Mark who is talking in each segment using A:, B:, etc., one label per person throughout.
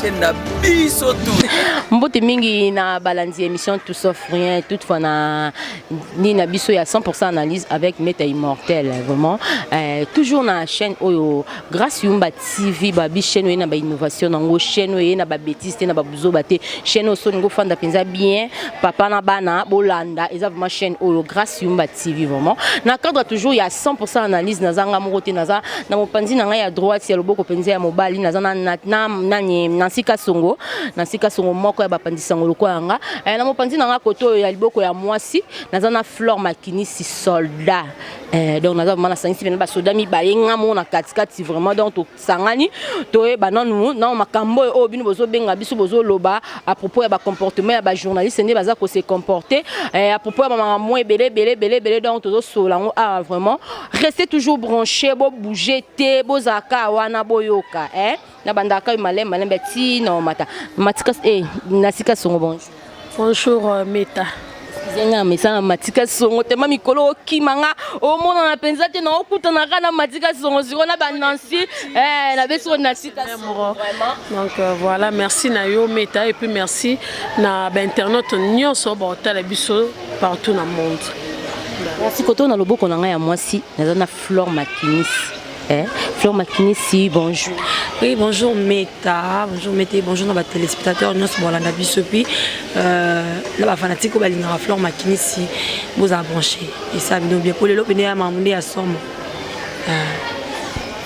A: chaîne na biso tout mbote mingi
B: na balandi émission tout sauf rien toutefois na ni na biso ya 100% analyse avec meta immortel vraiment euh, toujours na chaîne oyo grâce yumba tv babi chaîne oyo na ba innovation nango chaîne oyo na ba bêtise te na ba buzoba te chaîne oyo soningo fanda penza bien papa na bana bolanda eza vraiment chaîne oyo grâce yumba tv vraiment na cadre toujours ya 100% analyse nazanga moko te naza na mopanzi na ngai ya droite ya loboko mpenza ya mobali naza nani nansi kasongo nansi kasongo moko ya bapanzi sango lokola yanga eh, na mopanzi na ngai koto oyo ya liboko ya mwasi naza na flore makinisi soldat eh, donc naza vraimen nasangisi pena basoda mibale nga moko na katikati vraiment donc tosangani toyeba nanu na makambo oyo oyo bino bozobenga biso bozoloba à propos ya bacomportement ya bajournaliste nde baza kose comporte eh, à propos ya bamakambo ebele ebele ebele ebele donc tozosolola yango awa ah, vraiment restez toujours branché bo bouger te bozala kaka wana boyoka eh? nabandaka yo malembe malembe ti na omata matika eh, nasika songo bonjour bonjour euh,
C: meta zenga
B: mesana matika songo tema mikolo okima nga omonana mpenza te naokutana kaka na matika songo siko na banansi eh, na beso na sika donc euh, voilà
C: merci na yo meta et puis merci na bainternaute nyonso baotala biso partout na monde kasi
B: koto na loboko na ngai ya mwasi naza na flore makinisi eh? flore makinisi bonjour oui bonjour
D: meta bonjour meta bonjour na batelespectateur nyonso bolanda biso epuis euh, na bafanatique oyo balingaka flore makinisi bozala branche esa bino bien mpo lelo pene ya mamu nde ya somo
B: Ah.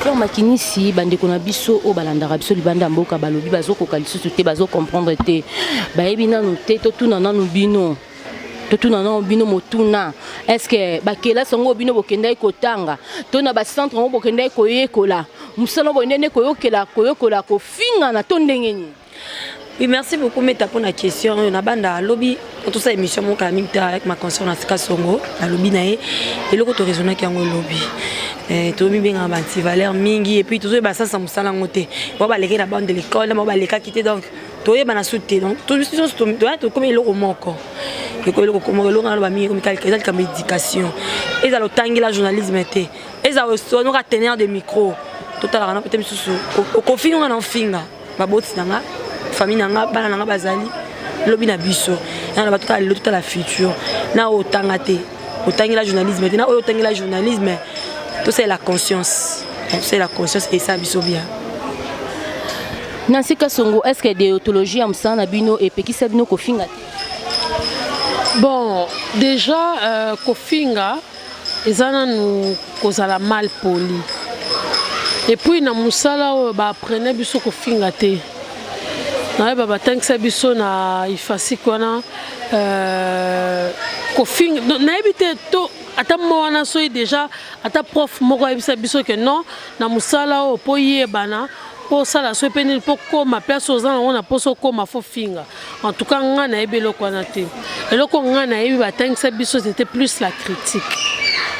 B: Flore Makinisi, bandeko na biso oyo balandaka biso libanda mboka balobi bazokoka lisusu te, bazokomprendre te, bayebi nanu te, totuna nanu bino totuna nano bino motuna estce bakelasi yango bino bokendaki kotanga to na bacentre yango bokendaki koyekola mosala boye ndene koyokela koyokola kofingana to ndenge nini Oui,
D: merci beaucoup Meta pour la question. On a banda lobby quand tout ça émission mon camille avec ma conscience na sika songo na lobby na ye et le koto raisonner qui en lobby. Eh, toyebi mbengaka banti valeur mingi epuis tozoyeba sasa mosala yango te bao balekaki na bande de l'école na bao balekaki te donc toyebana su te donc tokomi eloko moko ekoki eloko moko eloko naloba mingi ekomi eza likambo éducation ezala otangela journalisme te ezala osonoka teneur de micro totalaka na mpe te misusu okofinga na ofinga baboti na nga famille na nga bana na nga bazali lobi na biso yana na bato kaka lelo totala futur na oyo otanga te otangela journalisme te na oyo otangela journalisme tosalela conscience tosalela conscience esa biso bien nansi
B: kasongo est ce que deontologie ya mosala na bino epekisa bino kofinga te bon
C: déjà euh, kofinga eza nanu kozala mal poli epuis na mosala oyo baaprene biso kofinga te nayeba batangisa biso na ifasik wana euh, kofinga nayebi te to ata mwa wana soki deja ata prof moko ayebisa biso ke non na mosala oyo mpo yebana mpo osala soki mpe nini mpo koma place oza nango na mposa okoma fo finga En tout cas, nga nayebi eloko wana te. Eloko nga nayebi batangisa biso c'était plus la critique.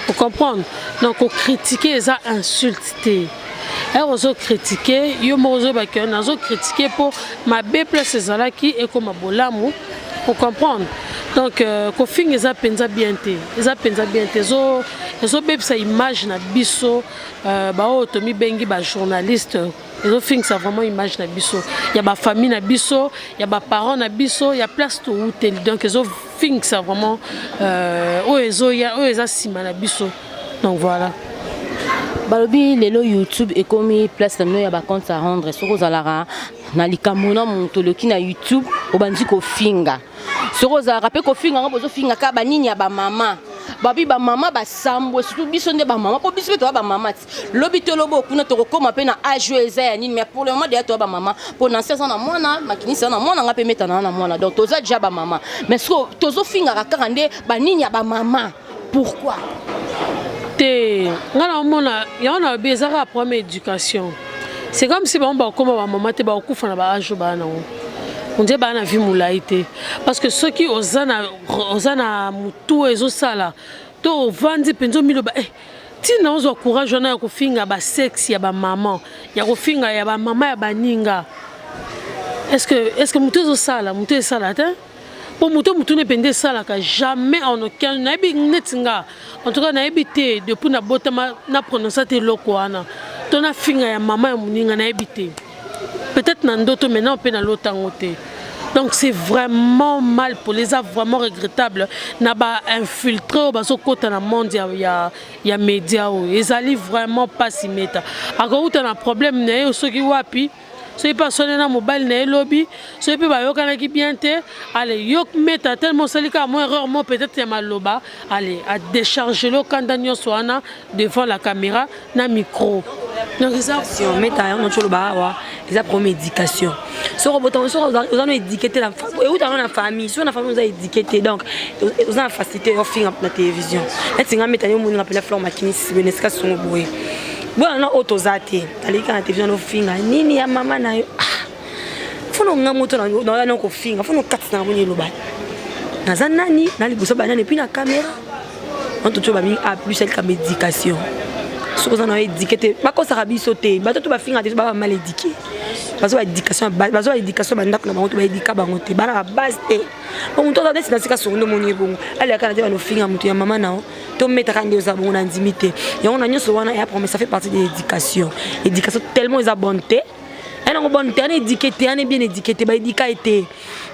C: Vous comprenez Donc critiquer eza insulte te. ere ozokritike yo moko ozoyebaka nazokritike mpo mabe place ezalaki ekoma bolamu ocomprendre donc euh, kofinga eza mpenza bien te eza mpenza bien te ezobebisa image na biso euh, baoyo tomibengi bajournaliste ezofingisa vraiment image na biso ya bafamille na biso ya baparent na biso ya place towuteli donc ezofingisa vraiment euh, oyo ezoya oyo eza nsima na biso donc voilà balobi
B: lelo youtube ekomi place na bino ya bacompte à rendre soki ozalaka na likambo na moto oloki na youtube obandi kofinga soki ozalaka mpe kofinga yango bozofinga kaka banini ya bamama babi bamama basambwe surtout biso nde bamama mpo biso mpe toya bamama lobi to lobo kuna tokokoma mpe na age oyo eza ya nini mais pour le moment deya toya bamama mpo nansi aza na mwana makinisi aza na mwana ngai mpe metana na mwana donc toza deja bamama mais siko tozofingaka kaka nde banini ya bamama pourquoi
C: te ngai naomona yango nalobi eza kaka problème éducation c'est comme si bango bakokoma bamama te bakokufa na baage oyo baa nango ondiye baa na vie molai te parce que soki oza na motu ezosala to ovandi mpenza omiloba eh, Tina ozwa courage wana ya kofinga ba sexe ya ba maman, ya kofinga ya ba maman ya baninga. Est-ce que est-ce que mutu ezo sala, mutu esala te? po moto motuna mpenza esalaka jamais en aucun nayebi neti nga en tout cas nayebi te depuis nabotama na prononce te eloko wana to nafinga ya mama ya moninga nayebi te peut-être na ndoto mais nao mpe nalota yango te donc c'est vraiment mal poli eza vraiment regrettable na bainfiltre oyo bazokɔta na monde ya, ya, ya média oyo ezali vraiment mpasi meta akouta na problème na ye soki wapi soki mpe aswani na mobali na ye lobi soki mpe bayokanaki bien te ale yo meta tellement osali kaka mo erreur mo peut-être ya maloba ale adecharge lokanda nyonso wana devant la camera na micro donc eza meta yango noti oloba
D: awa eza problème éducation soki obotama soki oza no édike te euta no na famille soki na famille oza édike te donc oza na facilité ya ofinga na télévision neti nga meta yo omoni nga mpela flore makinisi bene esika songo boye boyana oyo toza te aleki na télévision nofinga nini ya mama na yo ah. fono nga moto naoya na kofinga fono kati na moni eloba naza nani na liboso banani epuis na kamera antoto babi a plus elikamba éducation soki oza na édike te bakosaka biso te bato to bafinga te baba mal édike bazwa éducation bazwa éducation bandako na bango to baedika bango te bana babase te po moto aza neti na sika songo nde moni ye bongo alekaka na te banofinga moto ya mama na yo tometaka nde oza bongo na ndimi te yango na nyonso wana ya promesa fait partie de l'éducation éducation tellement eza bonne te ana ngo bon terne étiqueté ana bien étiqueté ba édika été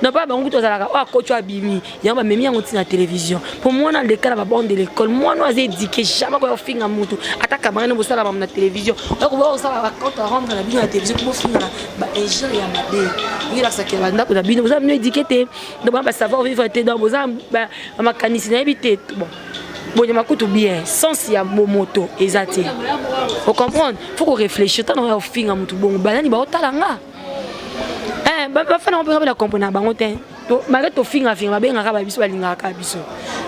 D: non pas bango tozalaka wa coach abimi yango ba memi yango tina télévision pour moi na lekala ba bande de l'école moi no azé étiqueté jamais ko finga mutu ata kamara ne bosala ba na télévision donc bo osala ba compte rendre la bien na télévision pour finga ba injure ya mabe il a saké banda ko da bino boza mino étiqueté donc ba savoir vivre té donc boza ba makanisi na ebité bon bonyama kutu bien sens ya bomoto eza te ocomprendre faut korefléchir ntango ya kofinga motu bongo banani baotala nga eh, bafana ngo mpenza bela comprene na bango te malgré tofingafinga babengaka ba biso balingaka kaka biso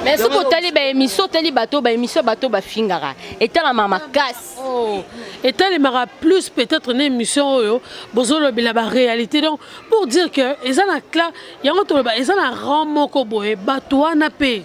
D: mais soki otali
B: baémission otali bato baémission bato bafingaka etalama makasi oh,
C: etelemaka plus peut-être na émission oyo bozolobela baréalité donc pour dire que eza na cla yango toloba eza na rang moko boye bato wana mpe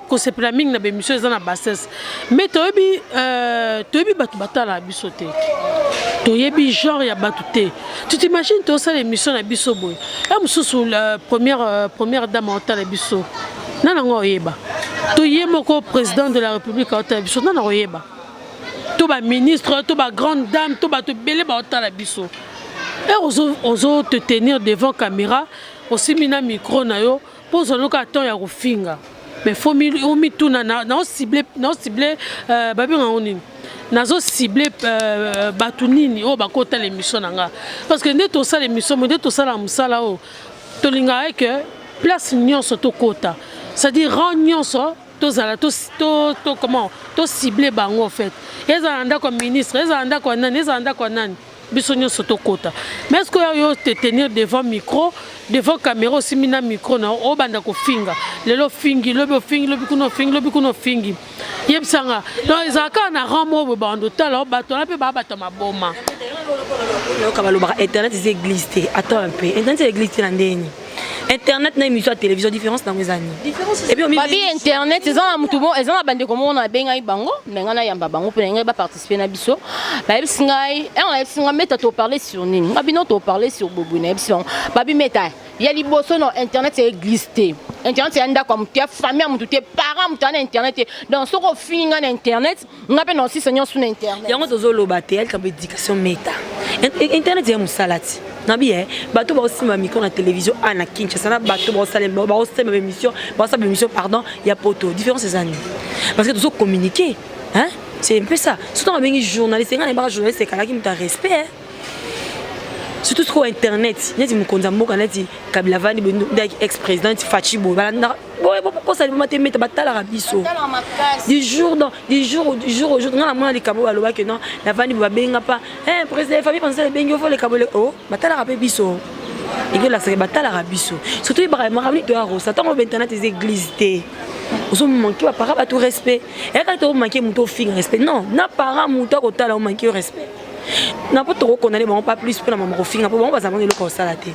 C: kosepela mingi na bemission eza na bassesse mais toyebi euh, toyebi bato batalaka biso te toyebi genre ya bato te tu t'imagine tosala émission na biso boye ya mosusu la première, euh, première dame otala biso nani yango oyeba to ye moko président de la république aotala biso nani akoyeba to baministre to bagrande dame to bato ebele baotala biso e ozo te tenir devant caméra osimbi na micro na yo Mpo ozwa loka temps ya kofinga mais fo omituna nao cible nao cible euh, babenga yango nini nazo cible euh, bato nini oyo bakotala émission na nga parce que nde tosala émission mo nde tosala mosala oyo tolingaka eke place nyonso tokota c'est-à-dire rang nyonso tozala to, to, to, comment to cible bango en fait ezala ndako ya ministre ezala ndako ya nani ezala ndako ya nani biso nyonso tokota mais est ce que yo te tenir devant micro devant caméra osimbi na micro na obanda kofinga lelo ofingi lobi ofingi lobi kuna ofingi lobi kuna ofingi yebisa nga donc ezala kaka na rang moko boye banda otala obato wana mpe baabata maboma
D: yoka balobaka internet eza église te attends un peu internet eza église te na ndenge nini internet na émission ya télévision différence nango eza ninibabi internet eza
B: na motu eza na bandeko moko nabengaki bango me ngai nayamba bango mpo na ngai baparticipe respect na biso bayebisi ngai eh, nayebisi ngai meta to parle sur nini nga bino to parle sur bobo nayebisi bango babi meta ya liboso na internet ya eglise te internet ya ndako ya motu ya famille ya motu te parent motu aza na internet te donc soki ofingi ngai na internet ngai mpe na osisa nyonso na internet yango tozoloba te ya
D: likambo éducation meta internet ya mosala ti nabi ye eh, bato baosimba micro na télévision a na kinshasa na bato baosalema baosalema baémission baosala baémission pardon ya poto différence eza nini parce que tozo communiquer hein c'est un peu ça surtout on bengi journaliste nga na baka journaliste ekalaki mutu ya respect surtout sikoyo internet neti mokonzi ya mboka neti kabila vandi bondaki ex président neti faci boye balandaka boye bokosa liboma te meta batalaka biso du jour dans du jour du jour au jour nga namona likambo balobaki non navandi babenga pa eh, président famille pensale ebengi ofo likambo le o oh, batalaka mpe biso ekolakisaka batalaka biso surtout ebaka makambo nito ya rosa ntango obe internet eza église te ozomanke bapaka bato respect eyaka te omake moto ofinga respect non na para moto akotala omake yo respect na po tokokondane bango pas plus mpo na mama kofinga mpo bango bazala bango eloko kosala te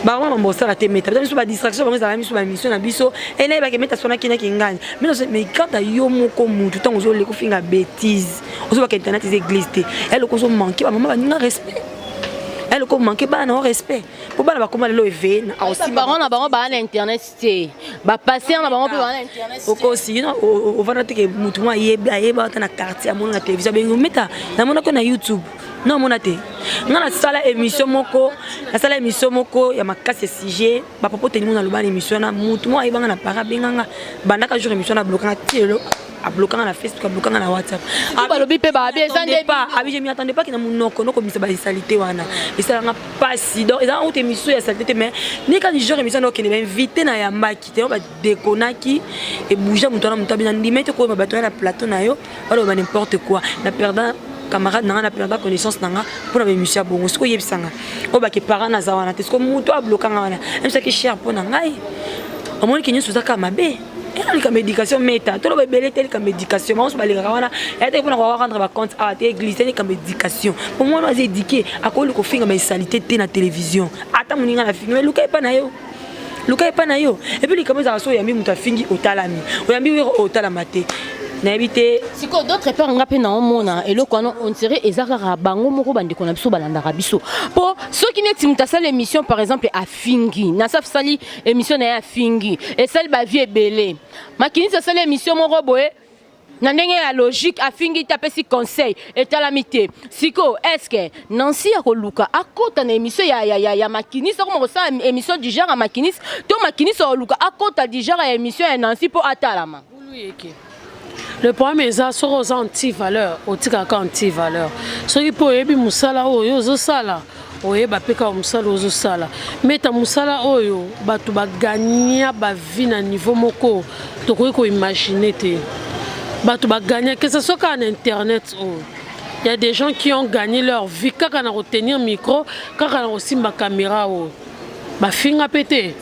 D: bango mama bosala te meta biso badistraction bango ezalaka biso bamission na biso enayebake meta sona kenaki ngani mais kanta yo moko mutu ntango ozoleka ofinga bétise ozobaka internet eza église te eloko ozomanke bamama baninga respect eloko omanke bana na yo respect mpo bana bakoma lelo eveye na bango na bango
B: baa na internet te ba passer na bango mpe bana internet okosi yino
D: ovanda te ke motu mwa ayebi ayeba ata na quartier amona na télévision abengi ometa namonaki yo na youtube na omona te nga nasala émission moko nasala émission moko ya makasi ya sujet bapapa otelingo naloba na émission wana motu mwa ayebanga na para abenganga bandaka jour émission na blokanga ti lelo ablokanga na facebook ablokanga na whatsapp balobi mpe babi
B: eza nde pa abi je m'y attendais pas
D: kina monoko nokobimisa basalite wana esalanga mpasi donc ezalanga kuta émission ya salite te mais ni kani genre émission nokende bainvité na yambaki te badekonaki ebouja moto wana moto abina ndima ete koyeba bato ya na plateau na yo baloba n'importe quoi na perdant camarade na nga na perdant connaissance na nga mpo na baémission ya bongo soki oyebisa nga oyo bake parent naza wana te soki moto abloka nga wana ebisaki cher mpo na ngai omoniki nyonso ozaka mabe eza likambo éducation meta toloba ebele te likambo éducation bango so balingaka wana ya te mpona koka rendre bacompte awa te église te likambo éducation po mwana oyo aza éduqué akoki kofinga baisalite te na télévision ata moninga na fingi eluka epa na yo luka epa na yo epuis likambo ezalaka so oyambi moto afingi otalami oyambi wero oyo otalama te nayebi te sikoyo d'autre part nga
B: mpe naomona eloko wana ondire eza kaka bango moko bandeko na biso balandaka biso mpo soki neti moto asala émission par exemple afingi na safsali Emission na ye afingi esali ba vie ebele. Makinisi asali emission moko boye na ndenge ya logique afingi te apesi conseil etalami te sikoyo eske nansi ya koluka akota na émission ya, ya, ya, ya makinisi akoma kosala émission du genre ya makinisi to makinisi ya koluka akota du genre ya émission ya nansi mpo atalama
C: le problème eza soki oza anti valeur otikaka anti valeur soki mpe oyebi mosala oyo ozosala oyeba mpe kaka mosala ozosala meta mosala oyo bato bagagna bavie na niveau moko tokoki koimagine te bato bagagna que ce soit kaka na internet oyo oh. ya des gens qui ont gagné leur vie kaka na kotenir micro kaka na kosimba caméra oyo oh. Bafinga pe te,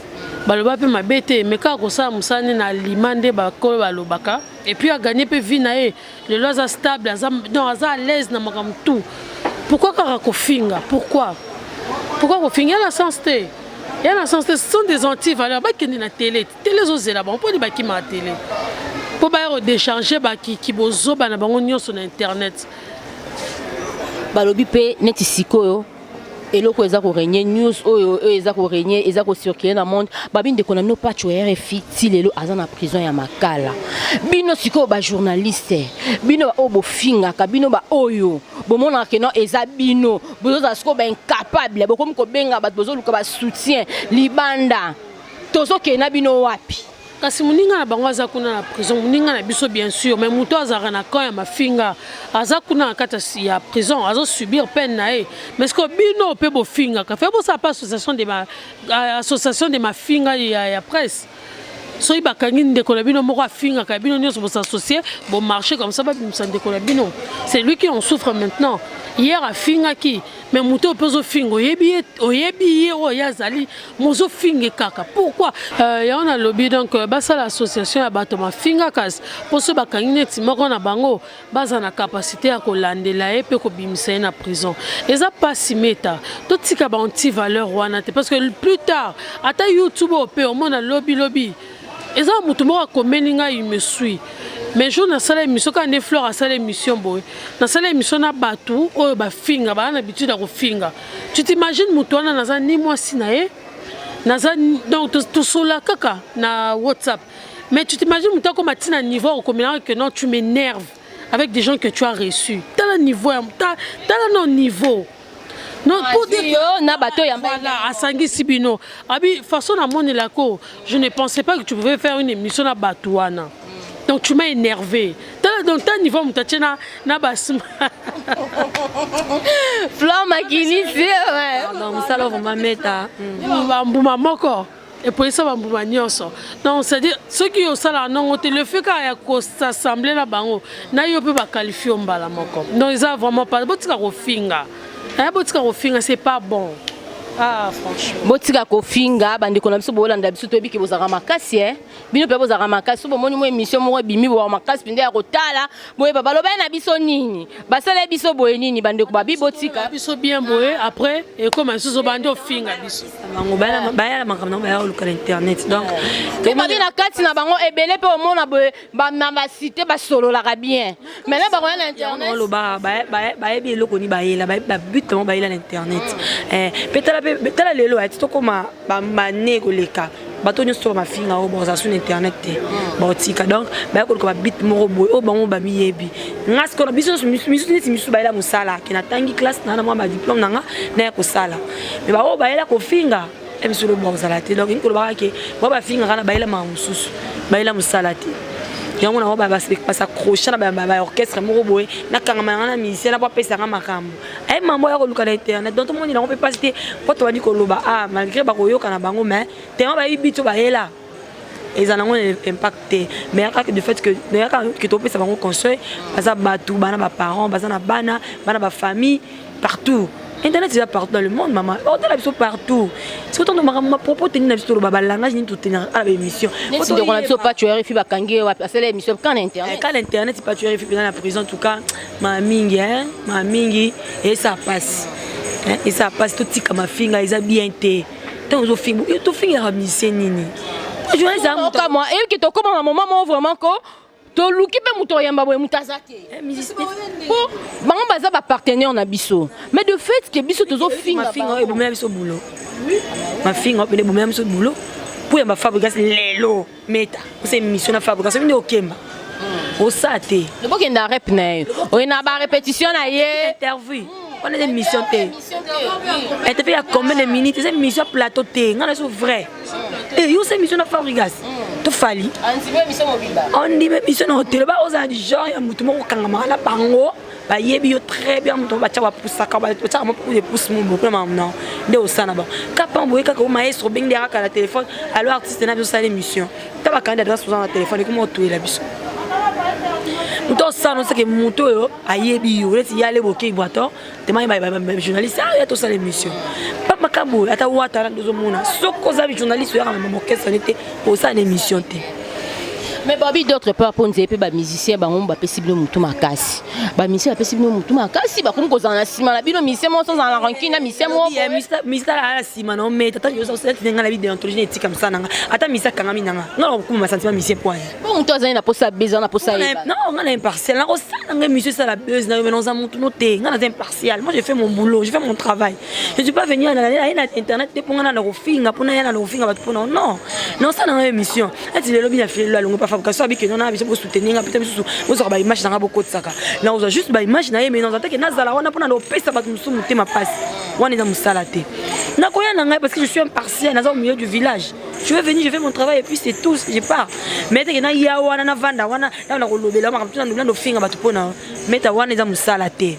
C: baloba pe mabe te, mais kaka kosala mosala nde na alima nde bakolo balobaka. Et puis a gagner pe vie na ye. Lelo aza stable, aza donc aza à l'aise na makambo tout. Pourquoi kaka kofinga? Pourquoi? Pourquoi kofinga? Y'a na sens te. Y'a na sens te. Ce sont des anti-valeurs. Bakende na tele. Tele ezozela bango. Mpo ni bakima na tele. Mpo baya kodecharge bakiki bozoba na bango nyonso na internet.
B: balobi pe neti sikoyo eloko eza ko régner news oyo oyo eza ko régner eza ko circuler na monde babi ndeko na bino pacho ya rfi ti lelo aza na prison ya makala bino sikoyo bajournaliste bino baoyo bofingaka bino baoyo bomonaka keno eza bino bozozala sikoyo baincapable bokomi kobenga bato bozoluka basoutien libanda tozokende na bino wapi kasi moninga na
C: bango aza kuna na prison moninga na biso bien sûr mais moto azalaka na camp ya mafinga aza kuna na kati ya prison azo subir peine na ye mais sikoyo bino mpe bofingaka fe bosala mpe association de ma, euh, association de mafinga ya, ya presse soki bakangi ndeko na bino moko afingaka bino nyonso bosasocie bomarche comme ça babimisa ndeko na bino c'est lui qui en souffre maintenant hier afingaki me moto oyo mpe ozofinga oyebi ye oyebi ye oyo ye azali mozofinge kaka pourkui euh, yango nalobi donc euh, basala association ya bato mafingakas mpo so bakangi neti moko na bango baza na kapasité ya kolandela ye mpe kobimisa ye na prison eza mpasi meta totika baanti valeur wana te parce que plus tard ata youtube oyo mpe omona lobilobi eza mutu moko akomeli ngai il me suit mais jour nasala émission kaka nde fleur asala émission boye nasala émission na bato oyo bafinga baa na bitide ya kofinga tu t'imagine moto wana naza ni mwasi na ye naza donc tosola kaka na whatsapp mais tu t'imagine moto akoma ntina niveau ya kokomelaka que non tu m'énerve avec des gens que tu as reçu tala niveau ya tala no niveau
B: asangisi
C: bino abi façon namonela ko je ne pensais pas que tu pouvais faire une émission na bato wana donc tu m'as énervé tala donc ta niveau moto atye na na basma
B: flan makinisi mosala vraimen
D: meta bambuma
C: moko epolisa bambuma nyonso donc c'est-à-dire soki osalaka ndongo te le fait kaka ya kosasemble na bango na yo mpe bakalifie yo mbala moko donc eza vraiment pas botika kofinga eh, botika kofinga c'est pas bon ah, franchement botika kofinga
B: bandeko na biso bolanda biso toyebi ke bozalaka makasi e eh? bino mpe bozalaka makasi so bomoni mwa émission moko ebimi boa makasi mpenza ya kotala boye balobani na biso nini basala biso boye nini bandeko babi botika biso bien boye
C: après ekoma lisusu bandi ofinga biso bango bayala
D: makambo nango baya koluka na internet donc tobabi na
B: kati na bango ebele mpe omona boye na basite basololaka bien maintenant bakoya na internetoloba
D: bayebi eloko ni bayela babute bango bayela na internet mpe eh, tala lelo ati tokoma bambane koleka bato nyonso to bamafinga oyo bakozala sur internet te hmm. baotika donc baya koluka babite moko boye oyo bango bamiyebi nga sikoyo na biso nyonso misusu neti misusu bayela mosala ke natangi classe naa na mwa badiplome na nga naya kosala me baoyo bayela kofinga emisolo eh, bakozala te donc inkolobaka ke bao bafingaka na bayela maka mosusu bayela mosala te yango nango basaccroche na baorchestre moko boye nakangama yanga na musicien na po apesanga makambo aye mambo ya koluka na internet donc tomoni nango mpe mpasi te mpo tobandi koloba ah malgré bakoyoka na bango mais tellement bayebi biso bayela eza nango na impact te mais ya kaka du fait que ya kaka ke topesa bango conseil baza bato bana baparent baza na bana bana bafamille partout internet eza partout dans le monde mama otala biso partout soki tondo makambo mapropos teni na biso toloba balangage nini totenaka ala baémission ndeko na biso
B: pacho rfi bakangi ye wapi asala émission ka na internet ka na internet pacho
D: rfi mpena na prison en tout cas ma mingi hein ma mingi esa pasi hein esa pasi totika mafinga eza bien te ntango ozofinga yo tofingaka misie nini okamwa eyoki tokoma
B: na moma moko vraiment ko toluki mpe moto oyamba boye moto aza te eh, mpo bango baza bapartenaire na biso mais de fait ke biso tozofingafinga ebomela biso bulo
D: mafinga opene ebomela biso bulo mpo ya bafabrigas lelo meta osa émission na fabrica soki nde okemba hmm. osa te obokenda rep na
B: ye oye na ba répétition na ye interview wana
D: eza émission te interview ya combien de minutes eza émission ya plateau te ngai naso vrai e eh, yo osa émission na fabrigas hmm. tofali ondima émission na otelo ba ozala du genre ya motu moko okangamaka na bango bayebi yo très bien moto batya bapusaka batyaka mopoude pousse moboko na mamna nde osala na bango kapa boye kaka o maestro obengi nde akaka na telefone alo artiste na biso osala émission ta bakandi adresse oza na telefone ekoma otoyela biso moto osala oseke moto oyo ayebi yo neti yale bokei bwato temai bajournaliste aya tosala émission pa makambo oyo ata wata na nde ozomona soki oza journaliste oyaka na mamokesani te osala na émission te mais
B: babi d'autre part mpo nzeye mpe bamusicien bango bapesi bino motu makasi bamusicien bapesi bino motu makasi bakomi kozala na nsima na bino musicien moko sozala na rancune na musicien mokomusicien alala na
D: nsima na omei tata yosaosalaki nga na bi deontologie na etika mosala na nga ata musicien akangami na nga nga nakokuma masantima musicien mpo aya mpo motu azali na posa
B: beza na posa non nga na impartial
D: nakosala nga emission esala buzz na yo mais naoza motu no te nga naza impartial moi je fais mon boulot je fais mon travail je suis pas venu na ye na internet te mpo ngana na kofinga mpo na yana na kofinga bato mpo na non nosala na yo émission ati lelo bina filelo alongo pa fabrication abi keno na biso bosoutenir nga mpe misusu bozwaka baimage na nga bokotisaka nakozwa juste baimage na ye mais naza teke nazala wana mpo na kopesa bato mosusu motema mpasi wana eza mosala te nakoya na ngai parce que je suis impartial naza au milieu du village je vais venir je fais mon travail et puis c'est tout je pars mais teke naya wana navanda wana nao nakolobela makambo tuna ndofinga bato mpo na meta wana eza mosala te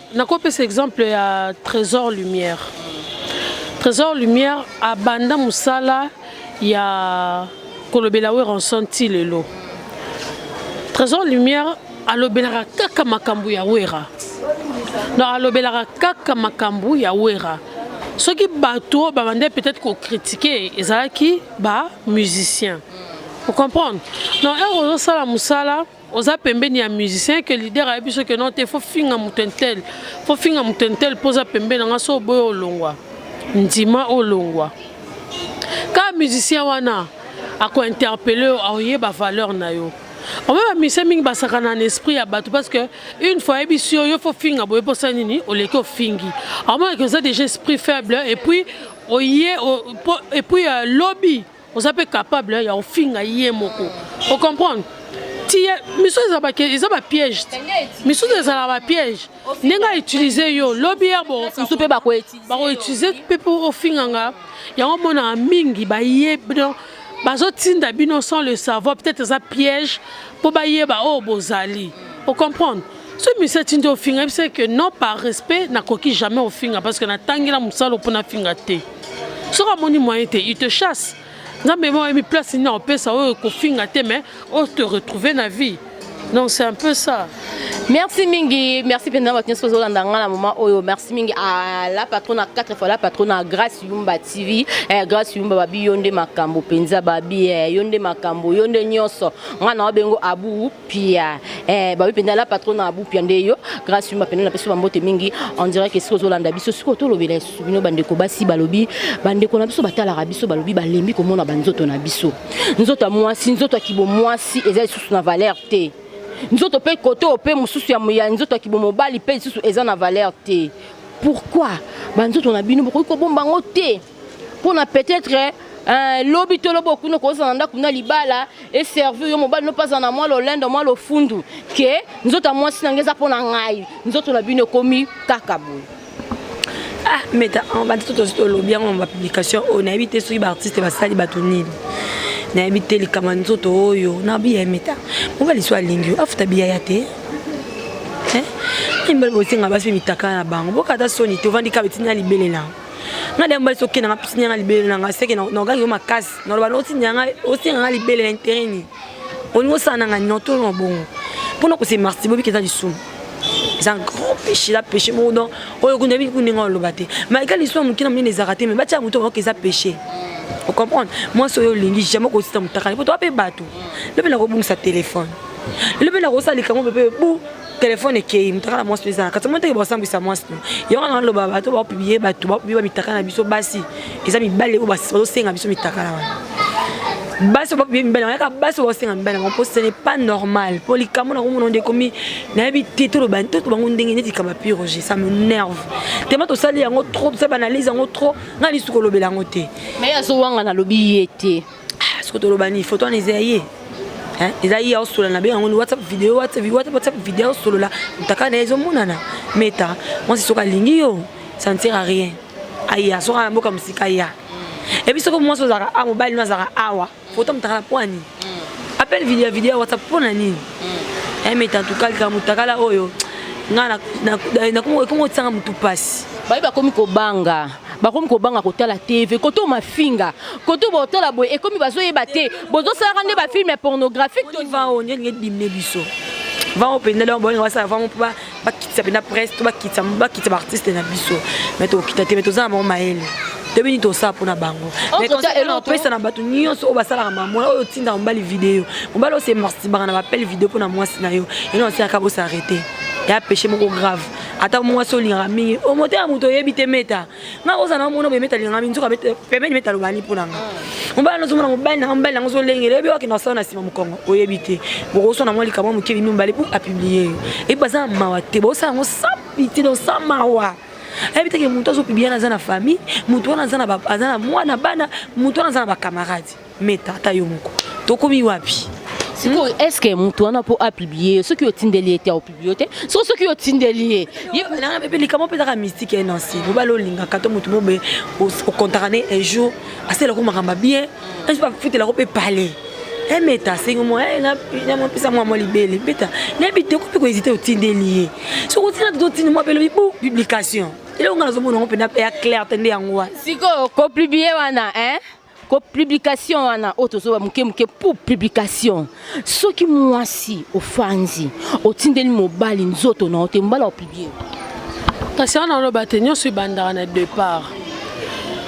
C: nakopesa exemple ya trésor lumière trésor lumière abanda mosala ya kolobela weranson ti lelo trésor lumière alobelaka kaka makambo ya wera donc alobelaka kaka makambo ya wera soki bato oyo babandai peut-être kokritike ezalaki bamusicien ocomprendre donc heure ozosala mosala oza pembeni ya musicien que leader ayebi soki no te fo finga moto intel fo finga moto intel mpo oza pembeni yanga so oboyi olongwa ndima olongwa kaka musicien wana akointerpele yo aoyeba valeur na yo obe bamise mingi basakana na esprit ya bato parce que une fois ayebisi yo yo fo finga boye mposa nini oleki ofingi aomonaki oza déjà esprit faible et puis oye et puis euh, lobi oza mpe capable ya kofinga ye moko ocomprendre tiye misusu ezalaka eza bapiège misusu ezalaka bapiège ndenge autilize yo lobi ya bomosusu mpe
B: bakoutilize mpe
C: mpo ofinga nga yango omonaka mingi bayebi bazotinda bino sans le savoir peut-être eza piège mpo bayeba oyo oh, bozali ocomprendre so monsieur atindi ofinga yebisa que non par respect nakoki jamais ofinga parce que natangela mosala mpo nafinga te soki amoni moyen te il te chasse nzambe mo oyebi place nini akopesa oyo kofinga te mais o te retrouver na vie donc c'est un peu ça merci mingi
B: merci mpenza bato nyonso ozolanda ngai na moma oyo merci mingi à la patrona 4 fois la patrona grace yumba tv eh, grace yumba babi yo nde makambo mpenza babi eh, yo nde makambo yo nde nyonso ngai na wabengo abu pia eh, babi mpenza la patrona abu pia nde yo grâce yuma mpenza napesi bambote mingi on dirait que soki ozolanda biso soki otolobela lisusu bino bandeko basi balobi bandeko na biso batalaka biso balobi balembi komona banzoto na biso nzoto ya mwasi nzoto ya kibomwasi eza lisusu na valeur te nzoto mpe kote oyo mpe mosusu ya nzoto ya kibomobali mpe lisusu eza na valeur te pourquoi banzoto na bino bokoki kobomba yango te pona peut-être eh, lobi to lobi okuna kozala na ndako na libala eservi yo mobali nopazala na mwa lolendo mwa lofundu ke nzoto ya mwasi na ngai eza mpo na ngai nzoto na bino ekomi kaka boye
D: ah meta bandi to tosi tolobi yango na bapublication oyo oh, nayebi te soki baartiste basali bato nini nayebi te likambo ya nzoto oyo oh, na biya meta mobali so alingi yo afuta biya ya te eh? mbali bosenga basi mpe mitaka na bango bokata soni te ovandi kaka etinda libelela nga de mbali soki nanga pisi nyanga libele nanga seke na ogaki yo makasi na loba oti nyanga oti nyanga libele na intérêt ni oni osala nanga ni to na bongo pona ko se marti bobi keza lisumu c'est un grand péché la péché moko donc oyo kunda bi kunda nga loba te mais kali so mukina mine ezaka te mais batia muto ba keza péché o comprendre moi so yo lingi jamais ko sita mutaka ni poto ape bato lobi na ko bungisa téléphone lobi na ko sala likango bebe bu telefone ekei motaka na mwasi no eza na kati moteke bakosambwisa mwasi no yango na naloba bato baopiblie bato baopiblie bamitaka na biso basi eza mibale oyo bazosenga biso mitaka na wana basi baopiblie mibale yango yaka basi baosenga mibale yango mpo ce n'est pas normal mpo likambo na komona nde ekomi nayebi te toloba toto bango ndenge neti kaba piroge ça me nerve tema tosali yango trop tosali banalyse yango trop ngai lisu kolobela yango te mais azowanga nalobi
B: ye te Ah, soki toloba
D: nini foto wana eza ya ye eza ye aosolola na be yango whatsapp video whatsapp video aosolola motaka na ye ezomonana meta mwasi soki alingi yo ça ne sert à rien aya soki na mboka mosika ya ebi soki mwasi ozalaka a mobali no azalaka awa foto motaka na pwani mm. appel video ya video ya whatsapp mpo na nini mm. meta ntuka likambo motakala oyo nga nakomi kotisanga motu mpasi baye bakomi kobanga
B: bakomi kobanga kotala tv koto mafinga koto botala boye ekomi bazoyeba te bozosalaka nde bafilme pornographique tolivaonyelingebimne
D: biso vango mpenza donc bolinga basala vango mpo bakitisa mpenza presse to bakitisa baartiste na biso mai tokokita te mai toza na bango mayele toyebi nini tosala mpo na bango opesa na bato nyonso oyo basalaka mamona oyo otindaka mobali video mobali osemarsibaka na bapele video mpo na mwasi na yo eno osilaka bosarete ya peche moko grave ata mwasi olingaka mingi omoto ya moto oyebi te meta nga kozala na mona boye meta alingaka mingi nzoka pembeni meta alobani mpo na nga mobali yango ozomona mobali nanga mobali yango ozolengela oyebi wakende asala na nsima mokongo oyebi te bokoswa na mwa likambo moke bino mibale mpo apiblie yo ebi baza na mawa te bosala yango sa piti no sa mawa ayebi teke moto azopiblia na aza na famille moto wana aza na mwana bana moto wana aza na bacamarade Meta ata yo moko. Tokomi wapi? sikoyo hmm? est ce
B: que moto wana mpo apiblie yo soki otindeli ye te aopiblie yo te so soki otindeli ye yebenanga mpe likambo
D: mpe ezaka mystique ya nansi mobali olingaka to moto mobe okontaka ne un jour asalelako makambo bien un jour afutelako mpe palais emeta asengi mwa namopesa mwa mwa libele mbeta nayebi te okoki koezite otindeli ye soki otina te totindi mwa belobi bu publication eloko nga nazomona yango mpenza mpe ya claire te nde yango wana sikoyo kopublie
B: wana eh? ko publication wana oyo tozoba moke moke pour publication soki mwasi ofanzi otindeli mobali nzoto na yo te mobali akopublie kasi
C: wana oloba te nyonso ebandaka na départ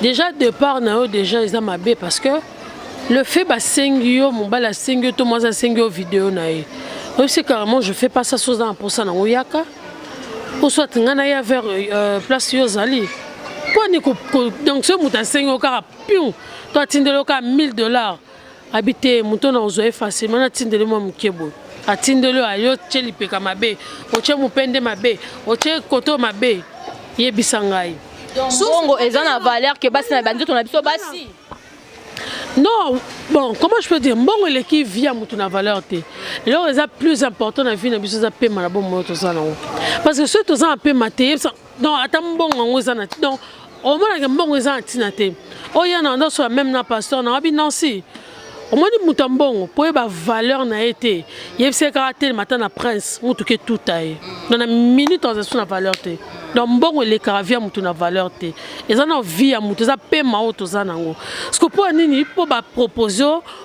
C: déjà départ na yo déjà eza mabe parce que le fait basengi yo mobali asengi yo to mwasi asengi yo video na ye oyebisi carrément je fais pas ça soza na mposa nango yaka ou soit ngai naya vers euh, place yo ozali mponi donc soki moto asengi yo kaka pion to atindeli yo kaka 1000 dollars abi te moto na ozwa ye facilement natindeli mwa moke boye atindeli yo ayo tye lipeka mabe otye mopende mabe otye koto mabe yebisa ngai bongo eza
B: na valeur ke basi na banzoto na biso basi
C: Non, bon, comment je peux dire Mbongo eleki vie ya mutu na valeur te. Lelo eza plus important na vie na biso eza pema na bomo oyo toza nango. Parce que soki toza na pema te, yebisa donc ata mbongo yango eza na donc omonaka mbongo eza na ntina te. Oya na ndo sola même na pasteur na wabi Nancy. omoni moto ya mbongo mpo oyeba valeur na ye te yebisa ye kaka atelema ata na prince motuka etuta ye donc na minute aza so na valeur te donc mbongo elekaka via moto na valeur te eza na vie ya moto eza pema oyo toza nango siko mpo ya nini mpo bapropose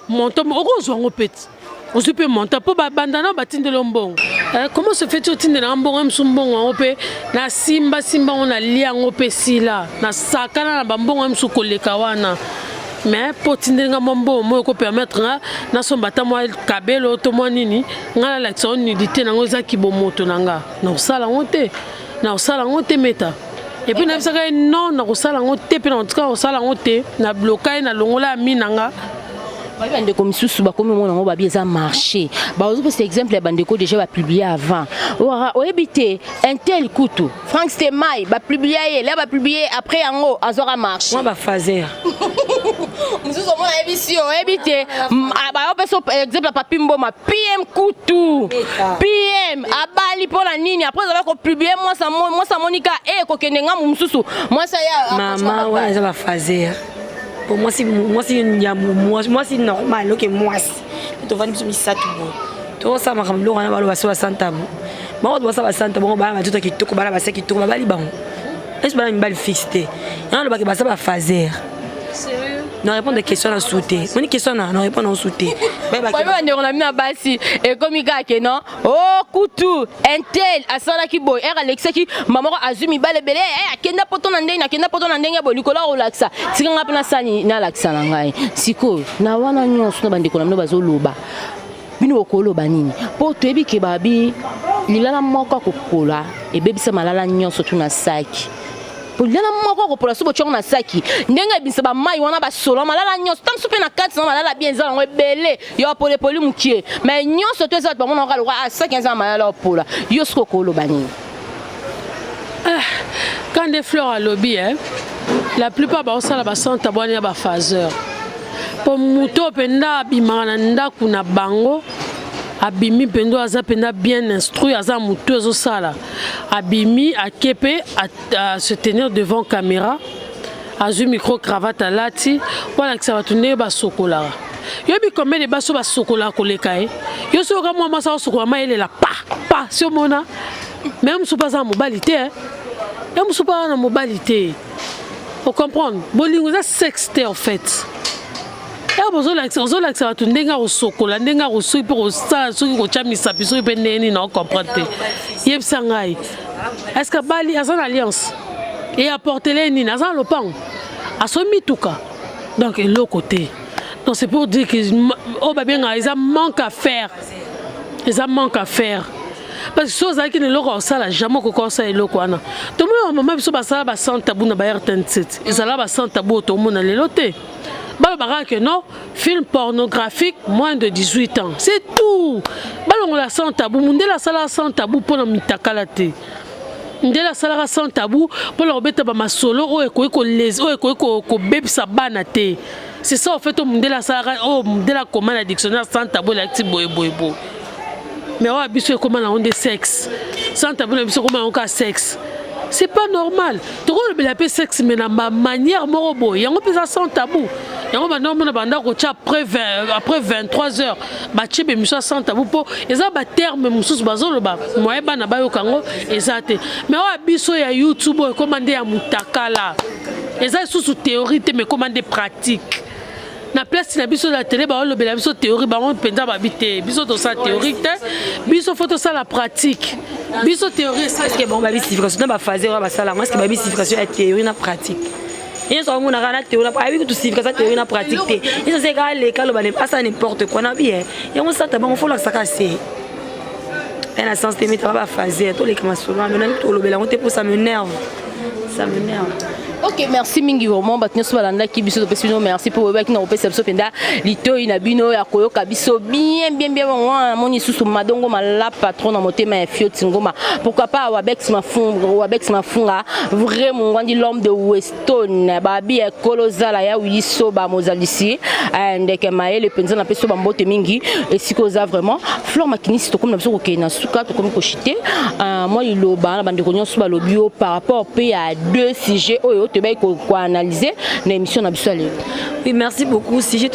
C: montant oko ozwa yango peti ozwi mpe montant mpo babanda nao batindeli yo mbongo eh, comment se fait otindela yango mbongo ya mosu mbongo yango mpe nasimbasimba yango nalia yango mpe sila nasakana na bambongo ya mosu koleka wana mais mpo otindeli nga mwa mbongo moyo ekopermettre nga nasomba ata mwa kabelo to mwa nini nga nalakisa yo nudité nango eza kibomoto na nga nakosala yango te nakosala yango te meta epuis nayebisaka ye non nakosala yango te mpe nakotika kosala yango te na bloka ye nalongola ya mi na nga babi
B: bandeko misusu bakomi omona yango babi eza marché bazopesa exemple ya bandeko déjà bapublie avant wara oyebi te intel kutu frank stemai bapublia ye la bapublie ye après yango azwaka marché bafazer mosusu omona ayebisi yo oyebi te ah, bayopesa exemple papi mboma pm kutu pm abali mpo na nini apres azalaki kopublie mwasi amoni ka e eh, kokende ngambo mosusu mwasi ayamama wana eza
D: bafaze po mwasi normal oke mwasi tovandi biso misato boye tokosala makambo biloko wana baloba so basanta bo bango to basala basanta bango bana batoto kitoko bana basi kitoko babali bango esi bana mibali fixe te yango alobaki baza bafazer
C: na répondre question
D: na su te moni question na na répondre na su te bandeko na
B: bino ya basi ekomi kaka ke non Oh kutu intel asalaki boy ere alekisaki mama moko azwi mibale ebele eh, akenda poto na ndenge akenda poto na ndenge boye likolo akolakisa tika ngai mpe nasani nalakisa na ngai sikoyo na wana nyonso na bandeko na bino bazoloba bino bokoloba nini mpo toyebi ke babi lilala moko akopola ebebisa malala nyonso tuna saki polilala moko akopola so botyongo na saki ndenge ebimisa bamai wana basola malala nyonso ntango so mpe na kati na malala bien eza yango ebele yo apole poli mukie mais nyonso to eza bato bamona kaka lokola asaki ah, eza na mayala opola yo soki okoloba nini ah,
C: quand de fleur alobi eh, la plupart baosala basanta bwani ya bafaseur mpo moto oyo mpenza abimaka na ndako na bango abimi mpenza aza mpenza bien instruit aza motu ezosala abimi ake mpe se tenir devant caméra azwi micro cravate alati mpo alakisa bato ndenge basokolaka yo bikombe de baso basokolaka koleka ye yo soki oka mwa mwasi akosokola ma elela pa pa si omona me mosusu mpe aza na mobali te eh. ye mosusu mpe aza na mobali te ocomprendre bolingo eza sexe te en fait ntango ozolakisa ozolakisa bato ndenge akosokola ndenge akosuki mpe kosala soki kotya misapi soki mpe ndenge nini naocomprendre te yebisa ngai estce abali aza na alliance e apportele nini aza na lopango asomi mituka donc eloko te donc c'est pour dire que oyo babengaka eza manque à faire eza manque à faire parce que so ozalaki na eloko akosala jamais okoki osala eloko wana tomona bamama biso basala basante tabu na ba rtn7 ezala basante tabu oyo tomona lelo te balobaka que non film pornographique moins de 18 ans c'est tout balongola sans tabou mundele asalaka sans tabou mpo na mitakala te ndele asalaka sans tabou mpo na kobeta bamasolo oyo ekoki kolezi oyo ekoki kobebisa bana te c'est ça ofait oyo mundele asalaka oyo mundele akoma na dictionnaire sans tabou elakisi boyeboyeboye mais oyo biso ekoma nango nde sexe sans tabou na biso ekoma nango kaka sexe c'est pas normal tokolobela mpe sexe mais na manière moko boye yango mpenza sans tabou yango banda omona banda kotya après 23 heures batye bemisio ya sans tabou mpo eza baterme mosusu bazoloba moye bana bayoka yango eza te mais oyo biso ya youtube oyo ekoma nde ya motakala eza lisusu théorie te mais ekoma nde pratique na place na biso na tele baolobela biso théorie bango mpenza babi te biso tosala théorie te biso fo tosala pratique biso théorie esalike bango babi signification na
D: baphase oyo basala yango eske babi signification ya théorie na pratique yesu akomonaka na théorie ayebi kutu signification ya théorie na pratique te yesu aseki aleka aloba asala n'importe quoi na biye yango sata bango fo olakisaka se na sens te mitanga baphase toleka masolo wana nani tolobela yango te mpo ça me nerve ça me nerve ok
B: merci mingi vraiment bato nyonso balandaki biso topesi bino merci mpo oyebaki na kopesa biso mpenza litoi na bino ya koyoka biso bien bien bien bango wana namoni lisusu madongo malapa tro na motema ya fioti ngoma pourquoi pas wabex mafunga vrai mongwandi l'homme de west tone babi ya ekolo zala ya wili soba mozalisi eh, ndeke mayele mpenza na mpe soba mbote mingi esika oza vraiment flore makinisi tokomi na biso kokende na suka tokomi koshite eh, mwa liloba na bandeko nyonso balobi yo par rapport mpe ya deux sujet oyo toyebaki koanalyse na émission na biso ya lelo oui merci
D: beaucoup sujet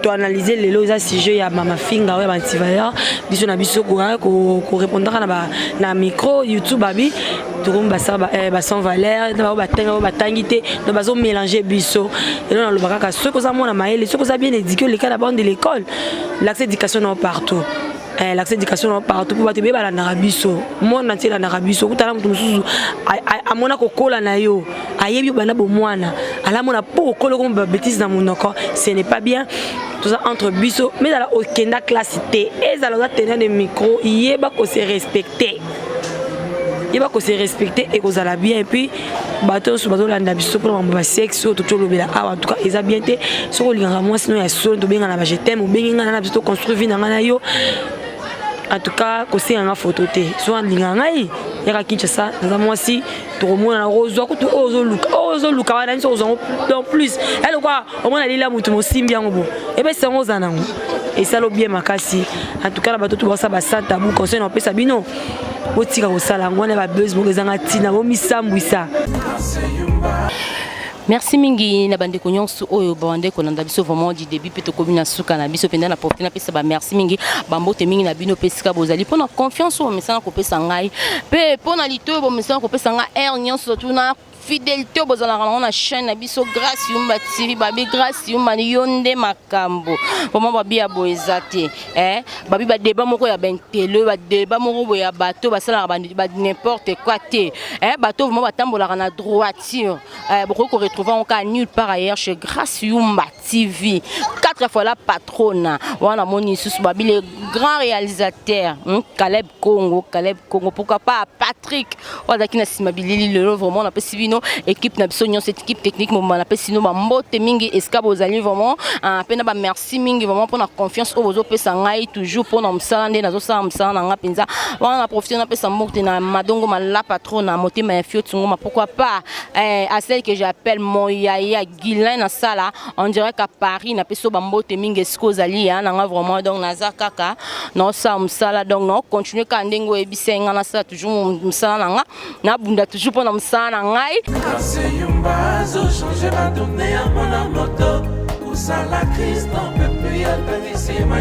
D: toanalyse lelo eza sujet ya mama finga oyo ya bantivaler biso na biso korepondaka na micro youtube abi tokomi basala eh, ba sans valeur na bango batangi bango batangi te donc bazo mélange biso elo naloba kaka soki oza mwana mayele soki oza bien éduqué oleka na bande de l'école l'accès éducation nao partout eh, l'accès éducation nao partout mpo bato ebeye balandaka biso monde na ntie elandaka biso okutana moto mosusu amona kokola na yo ayebi obanda bomwana alamona mpo okola okomi babétise na monoko ce n'est pas bien toza entre biso mais ezala okenda classe te ezala oza tenant de micro yeba ko se respecter yeba ko se respecter ekozala bien et puis bato nyonso bazolanda biso mpona makambo ya sexe oyo toki olobela awa en tout cas eza bien te soki olingaka mwasi no ya solo tobengana ba je t'aime obengi ngai na biso toconstruire vie na ngai na yo en tout cas kosenga nga foto te soki alingaka ngai yaka kinshasa naza mwasi tokomona na kozwa kutu oyo ozoluka oyo ozoluka wana nso kozwa yango donc plus ya lokwa omona lila motu mosimbi yango bo ebesi yango oza nango esala bien makasi en tout cas na bato to basala basanta bu conseil na opesa bino botika kosala yango wana ya babese moko ezanga ntina bomisambwisa
B: Merci mingi na bandeko nyonso oyo bande kolanda biso vraiment du début mpe tokomi na suka na biso mpenza na profite napesa ba merci mingi bambote mingi na bino mpe esika bozali mpo na confiance oyo bomesana kopesa ngai mpe mpo na lito oyo bomesana kopesa ngai aire nyonso tuna fidélité bozalaka nango na chaîne na biso grâce yumba tv babi grâce yumba yo nde makambo vraiment babi ya boye eza te eh? babi badeba moko ya bentele badeba moko boye ya bato basalaka n'importe quoi te eh? bato vraiment batambolaka na droiture Euh, bokoki ko retrouver yango kaka nulle part ailleurs chez Grace Yumba TV quatre fois la patrona wana moni lisusu babi le grand réalisateur hmm? Caleb Congo Caleb Congo pourquoi pas Patrick oyo azalaki na nsima bilili lelo vraiment napesi bino équipe na biso nyonso équipe technique mobimba napesi bino bambote mingi esika bozali vraiment mpe ah, na bamerci merci mingi vraiment pona confiance oyo bozopesa ngai toujours pona mosala nde nazosala mosala na ngai mpenza wana na profite napesa mbote na madongo malapa tro na motema ya fioti ngoma pourquoi pas eh, à celle que j'appelle mon yaya guilin na sala on dirait qu'à paris napesi yo bambote mingi esika ozali ya na ngai vraiment donc naza kaka naosala mosala donc naocontinue kaka ndenge oyebisai ngai nasala toujours mosala na ngai Na bunda toujours pona musala na ngai.